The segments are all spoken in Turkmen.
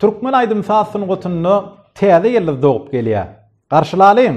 Türkmen aýdym saz sungatynda täze ýyldyz dogup gelýär. Garşylalyň!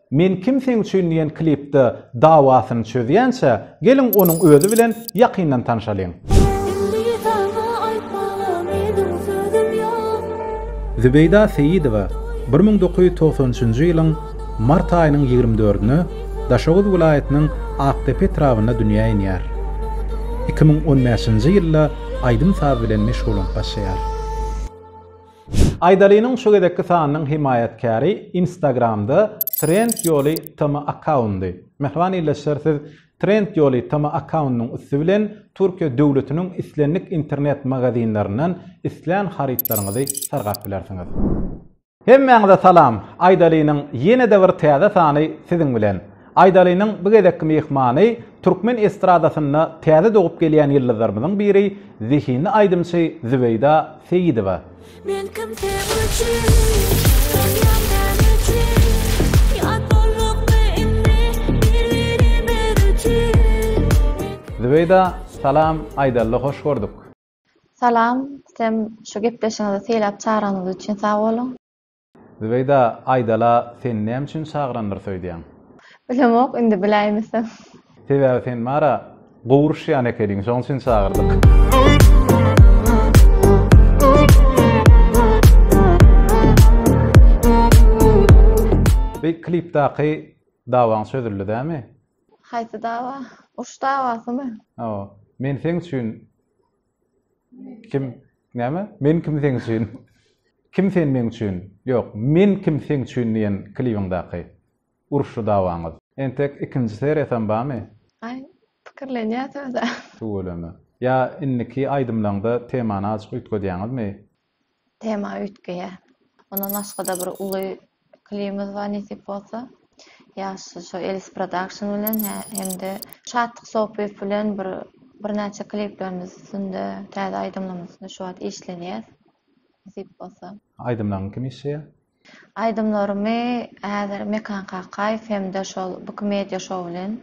Men kim seň üçin diýen klipde dawasyny çözýänçä, geliň onuň özi bilen ýakyndan tanşalyň. Zübeýda Seýidowa bir müň dokuz ýüz togsan üçünji ýylyň mart aýynyň ýigrimi dördüne Daşoguz welaýatynyň Akdepe etrabynda dünýä inýär. Iki müň on bäşinji ýylda aýdym-saz bilen meşgullanyp başlaýar. Aýdalynyň şu gezekki sanynyň hemaýatkäri Instagramda Trend ýoly TM akkaundy. Mähriban ildeşler siz Trend ýoly TM akkaundynyň üsti bilen Türkiýe döwletiniň islendik internet magazinlerinden islän harytlaryňyzy sargap bilersiňiz. Hemmäňize salam! Aýdalynyň ýene-de bir täze sany siziň bilen. Aýdalynyň bu gezekki myhmany türkmen estradasynda täze dogup gelýän ýyldyzlarymyzyň biri, zehinli aýdymçy Zübeýda Seýidowa. Men kim seň üçin, sen ýagdaň üçin, Ýat boldukmy indi bir-birimiz üçin. Zübeýda salam Aýdalda hoş gördük. Salam, sem şu gepleşigiňize seýläp çagranyňyz üçin sag boluň. Zübeýda aýdala sen näme üçin çagyrandyr söýdýäň. Bilemok indi biläýmesem. Sebäbi sen bara gowy uruşýan ekeniň şoň üçin çagyrdyk. Beý klipdaky dawaň çözüldi dämi. Haýsy dawa? Uruş dawasymy? Hawa. Men seň üçin Kim näme? Men kim seň üçin? Kim sen meň üçin? Ýok, men kim seň üçin diýen klibiňdäki uruşly dawaňyz. Entek ikinji seriýasam barmy? Aý, pikirlenýäs özä. Tüweleme. Ýa indiki aýdymlaňda temany azjyk üýtgedýäňizmi? Tema üýtgeýär. Ondan başga-da bir uly klibimiz bar nesip bolsa. Ýaşy şo Elis Production bilen hem-de Şatlyk Sopyýew bilen bir birnäçe kliplerimiz üstünde, täze aýdymlarymyz üstünde şu wagt işlenýäs. Nesip bolsa. Aýdymlaryňy kim işleýär? Aýdymlarymy häzir Mekan Kakaýew hem-de şol Bky Media Show bilen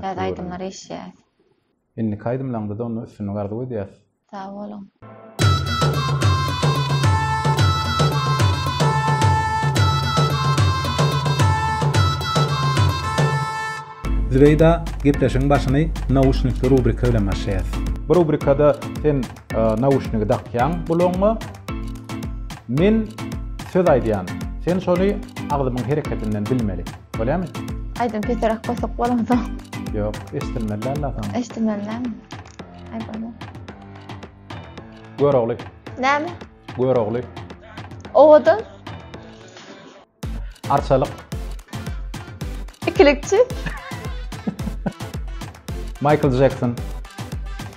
täze aýdymlary işleýäs. Indiki aýdymlaňda da onda üstünlik arzuw edýäs. Sag boluň. Zübeýda, gepleşigiň başyny nauşnikli rubrika bilen başlaýas. Bu rubrikada sen nauşnigi dakýaň gulagyňa. Men söz aýdýan. Sen şony agzymyň hereketinden bilmeli. Bolýamy? Aýdym peterak goýsak bolamsoň. Ýok, eşdilmeli alla soň. Eşdilmelimi? Aý bolma. Görogly. Näme? Görogly. Owadan. Arçalyk. Ikilikçi. Michael Jackson.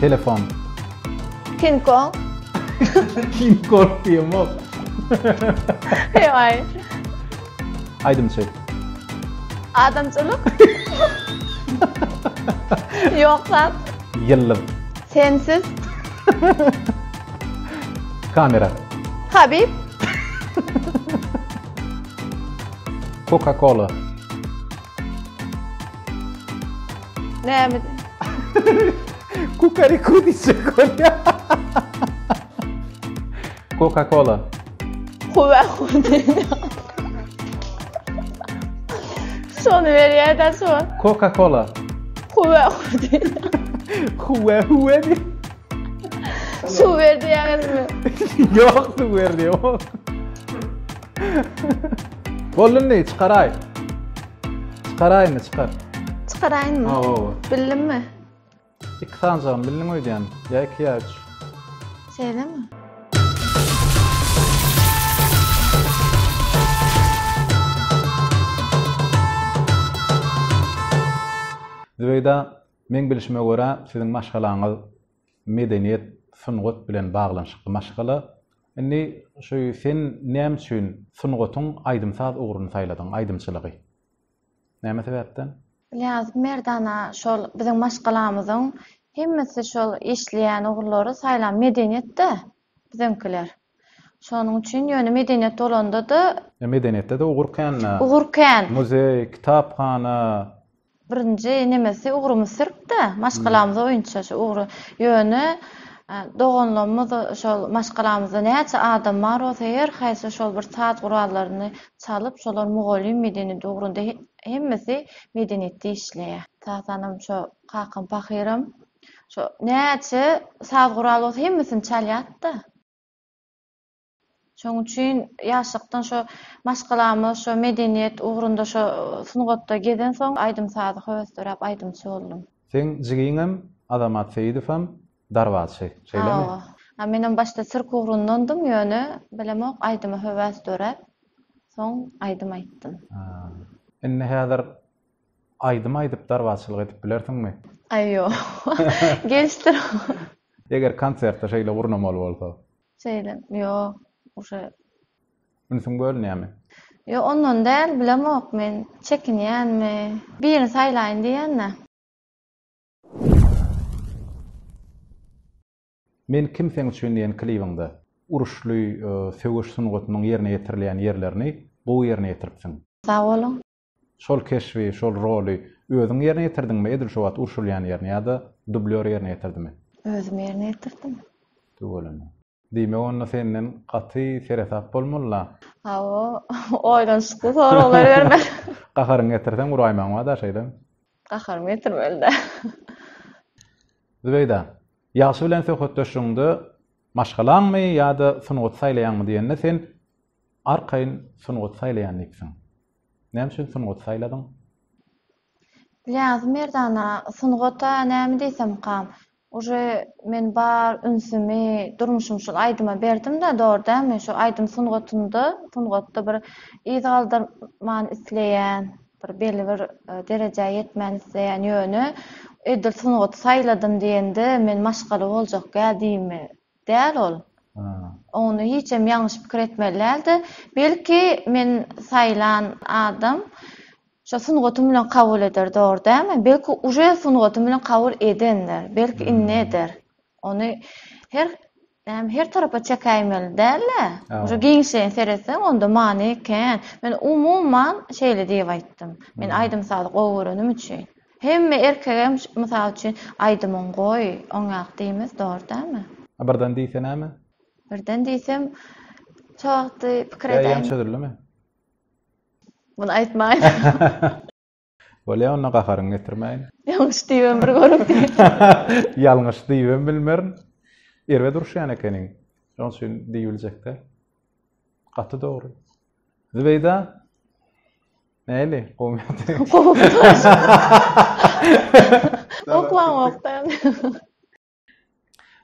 Telefon. King Kong. King Kong diýem ol. Hey ay. Aydym şey. Adamçylyk. Yok zat. Yıllım. Sensiz. Kamera. Habib. Coca-Cola. Näme? Kukariku diýjek bolýa. Coca-Cola. Kuwa Şony berýär-de şu. Coca-Cola. Kuwa Huwa huwa diýdi. Su berdi ýaňyzmy? Ýok, su berdi ýok. Boldy indi, çykaraý. Çykaraý indi, çykar. Çykaraýynmy? Hawa, hawa. Bildimmi? Iki sanjagym bildiň öýdýän. Ýa iki ýa üç. Şeýlemi? Zübeýda, meň bilşime görä, siziň maşgalaňyz medeniýet, sungat bilen baglanyşykly maşgala. Indi şu sen näme üçin sungatyň aýdym-saz ugruny saýladyň, aýdymçylygy? Näme sebäpden? Bilýäňizmi, Merdana, şol biziň maşgalamyzyň hemmesi şol işleýän ugurlary saýlan medeniýet-de biziňkiler. Şonuň üçin, ýöne medeniýet bolanda-da. Medeniýetde-de ugur kän-dä. Ugur kän. Muzeý, kitaphana, Birinji nemesi ugrumy sürüp-de, maşgalamyza oýunça şu ugry, ýöne doganlarymyz şol maşgalamyzda näçe adam bar bolsa her haýsy şol bir saz gurallaryny çalyp, şolar mugallym medeniýeti ugrunda hemmesi medeniýetde işleýär. Tatanam şo kakam pahyram şo näçe saz guraly bolsa hemmesini çalýardy-da. Şonuň üçin ýaşlykdan şo maşgalamyz, şo medeniýet ugrunda, şo sungatda gezensoň, aýdym-sazy höwesleräp aýdymçy boldum. Seň jigiňem, Azamat Seýidowam darbaçy, şeýlemi? Hawa. Ha, menem başda sirk ugrundandym, ýöne bilemok, aýdyma höwes döräp, soň aýdym aýtdym. Indi häzir aýdym aýdyp darbaçylyk edip bilersiňmi? Aý, ýok. Geç dur. Eger konsertde şeýle gurnamaly bolsa? Şeýle, ýok, uje. Ünsüň bölünýärmi? Ýok, ondan däl, bilemok men, çekinýänmi, birini saýlaýyn diýýän-dä. Men kim sen üçin diýen klibiňde uruşly söweş sungatynyň ýerine ýetirilýän ýerlerini gowy ýerine ýetiripsiň. Sag boluň. Şol keşbi, şol roly özüň ýerine ýetirdiňmi edil şo wagt urşulýan ýerini ýa-da dublýor ýerine ýetirdimi? Özüm ýerine ýetirdim. Tüweleme. Diýmek onda senden gaty seresap bolmaly-la? Hawa, oýlanyşykly soraglar bermeli. Gaharyňy getirseň uraýmagyň bar-da, şeýlemi? Gaharymy getirmeli-dä. Zübeýda, ýagşy bilen söhbetdeşligiňde maşgalaňmy ýa-da sungaty saýlaýaňmy diýende sen arkaýyn sungaty saýlaýan diýipsiň. Näme üçin sungaty saýladyň? Bilýäňizmi Merdana, sungata näme diýsemkam, uje men bar ünsümi, durmuşymy şol aýdyma berdim-de, dogry dälmi? Şu aýdym sungatynda, sungatda bir yz galdyrman isleýän, bir belli bir derejä ýetmän isleýän, ýöne edil sungaty saýladym diýende men maşgala boljak ýa diýme, Däl ol. Ony hiçem ýalňyş pikir etmeli däldi. Belki men saýlan adam şo sungatym bilen kabul eder dogry dämi? Belki uje sungatym bilen kabul edendir. Belki indi eder. Ony her näme her tarapa çekäýmeli dälä. Uje giňişleýin seretseň onda many kän. Men umuman şeýle diýip aýtdym. Men aýdym sazy gowy görenim üçin. Hemme erkegem mysal üçin aýdymyň goý oňýak diýmez dogry dälmi. A birden diýse näme? Birden diýsem şo wagty pikir edäýmeli. Ýaýam çözüldimi? Muny aýtmaýyn. Bolýa onda gaharyňy getirmäýin. Ýalňyş diýibem bir görüň diýip. Ýalňyş diýibem bilmerin. Erbet uruşýan ekeniň. Şoň üçin diýibiljek däl. Gaty dogry. Zübeýda Näli? Gowy. Oklanmakdan.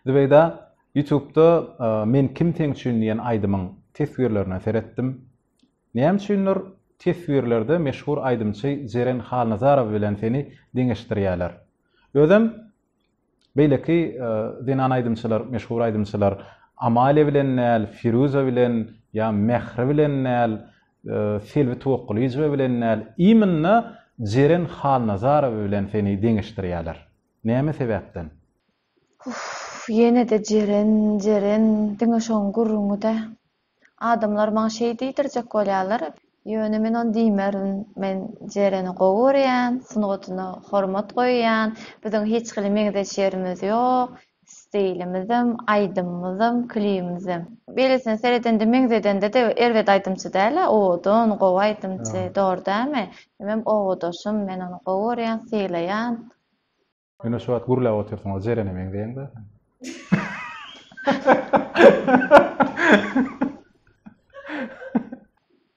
Zübeýda, YouTube-da e, Men kim sen üçin diýen aýdymyň teswirlerine seretdim. Näme üçindir teswirlerde meşhur aýdymçy Jeren Halnazarow bilen seni deňeşdirýärler. Özem Beýleki zenan aýdymçylar, meşhur aýdymçylar Amalia bilen däl, Firuza bilen ýa Mähri bilen däl, Selbi Tuwakgylyjowa bilen däl, imенно Jeren Halnazarowa bilen seni deňeşdirýärler. Näme sebäpden? Uff, ýene-de Jeren, Jeren, diňe şoň gürrüňi-dä. Adamlar maňa şeý diýdirjek bolýarlar. Ýöne men ony diýmerin. Men Jereni gowy görýän, sungatyna hormat goýýan. Biziň hiç hili meňzeş ýerimiz ýok. Stilimizem, aýdymymyzam, klibimizem. Beýlesine seredende, meňzedende-de erbet aýdymçy däl-ä. Owadan, gowy aýdymçy, dogry dälmi? Hemem owadaşym, men ony gowy görýän, sylaýan. Ine şu wagt gürläp otyrsyň o Jerene meňzeýäň da.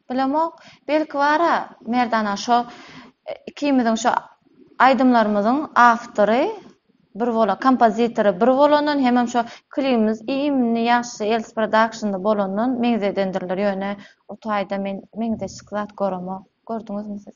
Bilemok, belki bara Merdana şo e, ikimiziň şo aýdymlarymyzyň awtory bir bolan, kompozitory bir bolandan hemem şo klibimiz iýmini ýagşy Els Production'da bolandan meňzedendirler ýöne o taýda men meňzeşik zat göremok. Gördüňizmi siz?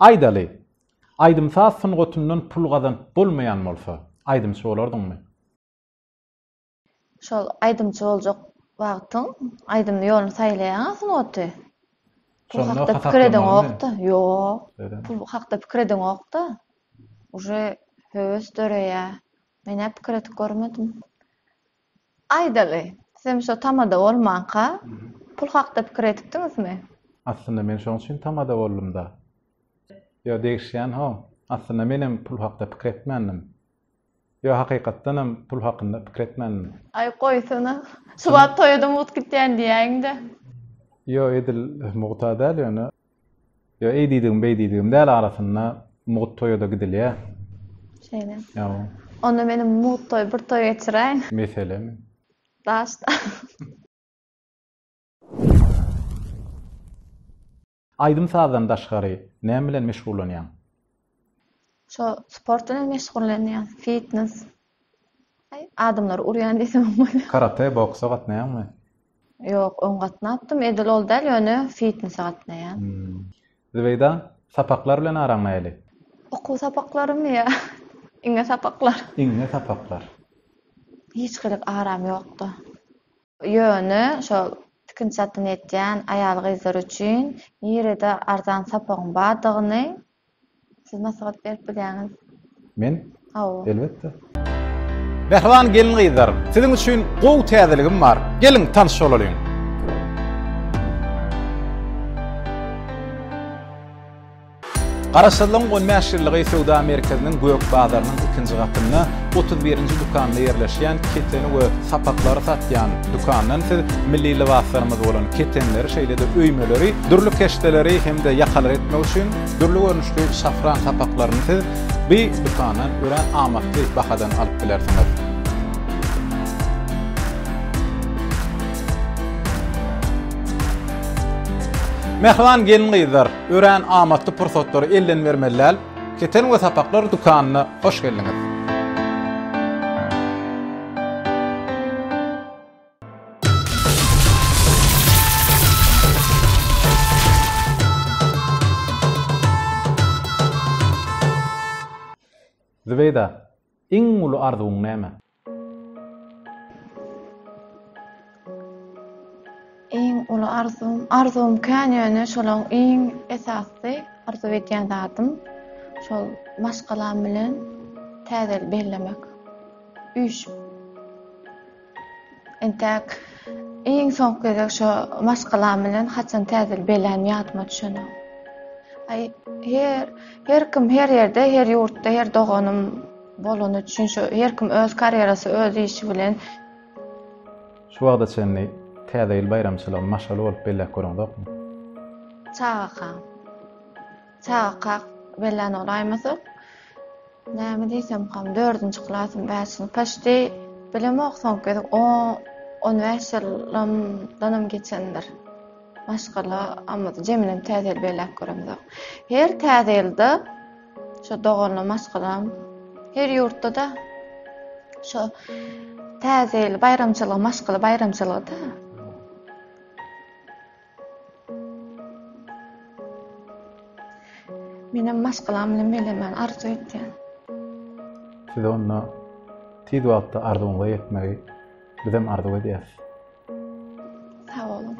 Aýdaly, aýdym-saz sungatyndan pul gazanyp bolmaýan bolsa, aýdymçy bolardyňmy? Şol aýdymçy boljak wagtyň aýdymly ýoluny saýlaýaň-a sungaty. Pul Şonda hakda pikir edeňok-da. Ýok. Öýdemok. Pul hakda pikir edeňok-da. Uje höwes döreýär. Men-ä pikir edip görmedim. Aýdaly, sizem şo tamada bolmanka, pul hakda pikir edipdiňizmi? Aslynda men şoň üçin tamada boldum-da. Ýo, degişýän-ho. Aslynda menem pul hakda pikir etmändim. Ýo, hakykatdanam pul hakynda pikir etmändim. Aý, goýsana. Şu wagt toýa-da mugt gitýän diýäýiň-dä. Ýo, edil mugta däl ýöne. Ýa eý diýdigim, beý diýdigim däl arasynda mugt toýa-da gidilýär. Şeýle. Ýa. Onda meniň mugt toý, bir toý geçiräýiň. Meselemi? Daşda. Aýdym-sazdan daşgary näme bilen meşgullanýaň? Şo sport bilen meşgullanýan, fitnes. Aý, adamlary urýan diýsemem bolýar. Karate, boksa gatnaýaňmy? Ýok, öň gatnapdym, edil ol däl, ýöne fitnese gatnaýan. Zübeýda, sapaklar bilen araň nähili? Okuw sapaklarymy ýa iňňe sapaklar? Iňňe sapaklar. Hiç gylyk aram ýokdy. Ýöne şo tikinçi zatdan ýetýän aýal-gyzlar üçin nirede arzan sapagyň bardygyny Siz maslahat berip bilýäňiz. Men? Hawa. Elbetde. Mähriban gelin-gyzlar, siziň üçin gowy täzeligim bar. Geliň, tanyş bolalyň. Garaşsyzlygyň on bäş ýyllygy söwda merkeziniň gök bazarynyň ikinji gatynda, otuz birinji dükanda ýerleşýän keteni we sapaklary satýan, Dükandan siz milli lybaslarymyz bolan ketenleri, şeýle-de öýmeleri, dürli keşdeleri hem-de ýakalary etmek üçin dürli görnüşli şafran sapaklaryny siz bu dükandan örän amatly bahadan alyp bilersiňiz. Mähriban gelin-gyzlar, örän amatly pursatlary elden bermeli däl. Keten we sapaklar dükanyna hoş geldiňiz. Zübeýda, iň uly arzuwyň näme? Iň uly arzuwym, arzuwym kän ýöne şolaň iň esasysy arzuw edýän zadym şol maşgalam bilen täze ýyl bellemek. Üýşüp. Entäk iň soňky gezek şo maşgalam bilen haçan täze ýyl bellänim ýadyma düşenok. Aý her her kim her ýerde her ýurtda her doganym Bolany üçin şu her kim öz karýerasy öz işi bilen. Şu wagta çenli täze ýyl baýramçylygyny maşgala bolup belläp göreňzokmy? Çagakak. Çagakak bellän ol aýmasok. Näme diýsemkam dördünji klasym bäşini paşdi bilemok soňky gezek on bäş ýylymdanam geçendir. Maşgala ammada jeminem täze ýyl belläp göremzok. Her täze ýylda Şu doganly maşgalam her ýurtda-da şu täze ýyl baýramçylygy, maşgala baýramçylygy-da. Menem maşgalam bilen melemen arzuw etýän. Size onda tiz wagtda arzuwyňyza ýetmegi bizem arzuw edýäs. Sag boluň.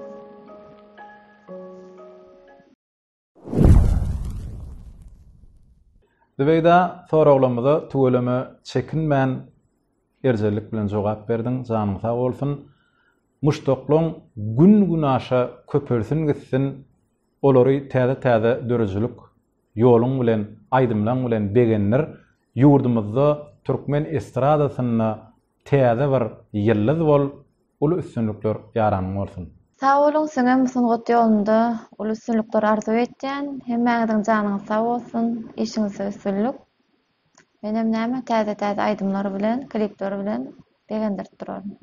Zübeýda, soraglarymyza tüweleme çekinmän, erjellik bilen jogap berdiň, janyň sag bolsun. Muşdaklaň gün-günaşa köpelsin gitsin, olary täze-täze döredijilik ýoluň bilen, aýdymlaň bilen begendir. Ýurdumyzda türkmen estradasynda Täze bir ýyldyz bol uly üstünlikler ýaranyň bolsun. Sag boluň siňem bu sungat ýolunda uly üstünlikler arzuw etýän hemmäňiziň janyňyz sag bolsun işiňizde üstünlik menem näme täze täze aýdymlar bilen klipler bilen begendirip duraryn.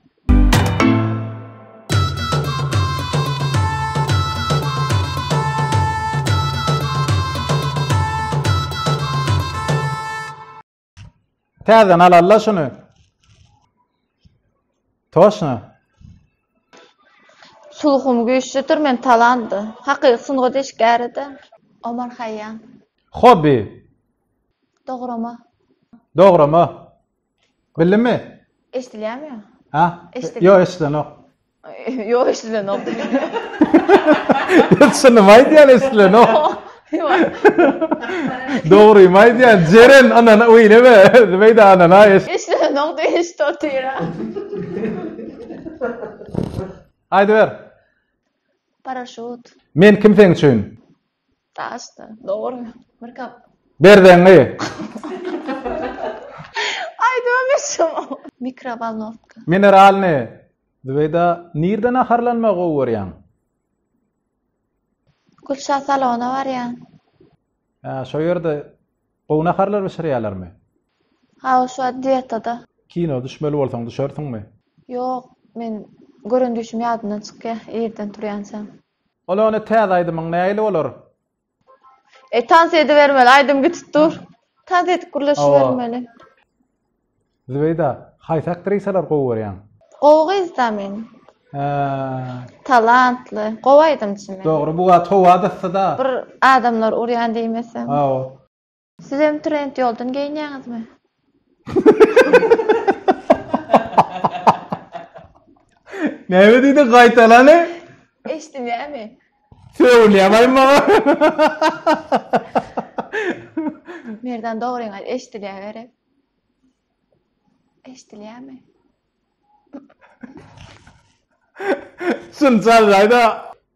Täzeden alalla şunu. Toşna. Sulhum güýçlüdir men talandy. Hakyky sungat işgäridi. Omar Haýýan. Hobi. Dograma. Dograma. Bildimi? Eşdilýärmi? Ha? Eşdilýär. Ýok, eşdilenok. Ýok, eşidilenok. Düşündim aýdýan eşidilenok. Dogrymy aýdýan, Jeren anana öýleme, beýde anana eş. Eşidilenok diýip eşit otyra. Aýdyber. Paraşut. Men kim seň üçin? Daş da. Dogry. Bir kap. Berzeňňi. Aýdyma meşhum. Mikrowolnowka. Mineralny. Zübeýda, nirde naharlanmagy gowy görýäň? Gülşah salona barýan. Hä, şo ýerde gowy naharlar bişirýärlermi? Hawa, şu wagt dietada. Kino düşmeli bolsaň düşersiňmi? Ýok, men gören düýşüm ýadymdan çykýar, irden turýançam. Ol ony täze aýdymyň nähili bolar. E tans edibermeli aýdym gitip dur. Tans edip gürleşibermeli. Zübeýda, haýsy aktrisalar gowy görýäň? Gowy gyzda men. Hä. Talantly, gowy aýdymçy men. Dogry, bu wagt howa-da yssy-da. Bir adamlar urýan diýmeseň. Hawa. Sizem trend ýoldan geýinýäňizmi? Näme diýdi gaýtalany? Eşdinýämi? Sögülýär baý maňa. Merdan dogryňy aýt, eşdilýär gerek. Eşdilýärmi? Şunça gaýda